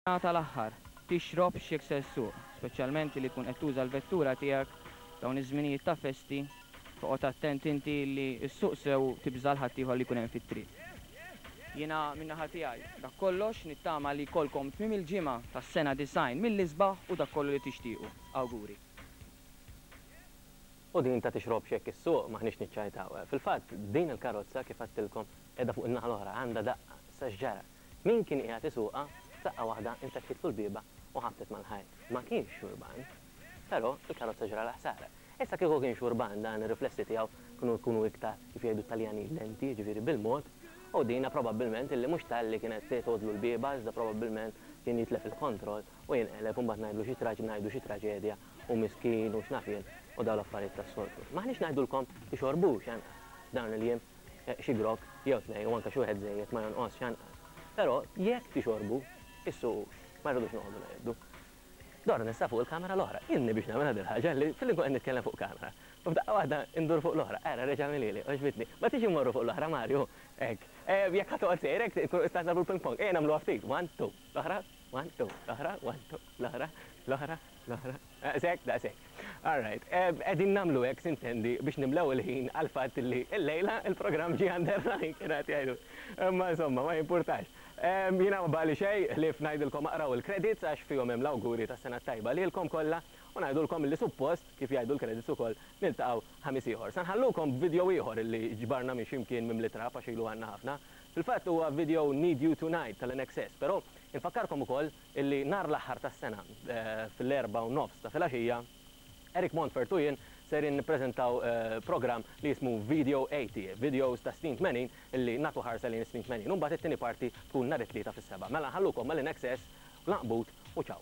Sa tal-aħħar, tixrobx jekk se ssuq, speċjalment li tkun qed tuża l-vettura tiegħek dawn iż-żminijiet ta' festi, toqgħod attent inti li ssuq sew u tibża' 'l ħaddieħor li jkun hemm fit-triq. Jiena minn naħa tiegħi dak kollox, nittama li jkollkom tmiem il-ġimgħa tas-sena 90 mill-isbaħ u dak kollu li tixtiequ. Awguri. U din ta' tixrobx jekk issuq, m'aħniex niċċajtaw. Fil-fatt, din il-karozza, kif għedtilkom, qiegħda fuq in-naħa l-oħra, għandha daqqa. Issa x'ġara? Min kien qiegħed isuqha, f'daqqa waħda infetħitlu l-bieba u ħabtet mal-ħajt. Ma kienx xurban. Però, il-karozza ġralha ħsara. Issa kieku kien xurban dan ir-riflessi tiegħu kienu jkunu iktar, kif jgħidu t-Taljanin, lenti, jiġifieri bil-mod, u dina probabbilment illi mhux talli kienet tgħoddlu l-bieba iżda probabbilment kien jitlef il-kontroll u jinqeleb u mbagħad ngħidlu xi traġ ngħidu xi traġedja u miskin u x'naf jien u dawn l-affarijiet tas-soltu. M'aħniex ngħidulkom tixorbux anqas f'dawn il-jiem. Xi grokk jew tnejn u anke xi wieħed żejjed ma jonqosx anqas. Però jekk tixorbu, issuqux. Ma rridux noqogħdu ngħiddu. Dor nista' fuq il-kamera l-oħra. Ilni biex nagħmilha din il-ħaġa li filli nkun qed nitkellem fuq kamera u f'daqqa waħda ndur fuq l-oħra. Ara, reġa' għamilha li, għoġbitni. Ma tridx immorru fuq l-oħra, Mario? Hekk. Jekk ħa toqgħod sejra hekk tkunu tistgħu tagħmlu l-ping pong. Ejja nagħmluha ftit. One, two. L-oħra. One, two. L-oħra. One, two. L-oħra. L-oħra. Naqra? Daqshekk? Daqshekk. All right. Qegħdin nagħmlu hekk, sintendi, biex nimlew il-ħin għall-fatt li llejla l-programm ġie under running, kienu qed jgħidu. Imma insomma, ma jimpurtax. Jiena ma baqgħli xejn ħlief ngħidilkom aqraw il-credits għax fihom hemm l-awguri tas-Sena t-Tajba lilkom kollha u ngħidulkom li suppost, kif jgħidu l-credits ukoll, niltaqgħu Ħamis ieħor. Se nħallukom b'video ieħor li ġbarna minn xi mkien mimli trab għax ilu għandna ħafna. Fil-fatt huwa video Need You Tonight tal-INXS, però infakkarkom ukoll illi nhar l-aħħar tas-sena fl-erbgħa u nofs ta' filgħaxija, Eric Montfort u jien sejrin nippreżentaw programm li jismu Video 80, Videos tas-Snin Tmenin, illi nagħtu ħarsa lejn is-snin tmenin u mbagħad it-tieni parti tkun nhar it-Tlieta fis-sebgħa. Mela nħallukom ma' l-INXS, l-Għanqbut u ċaw!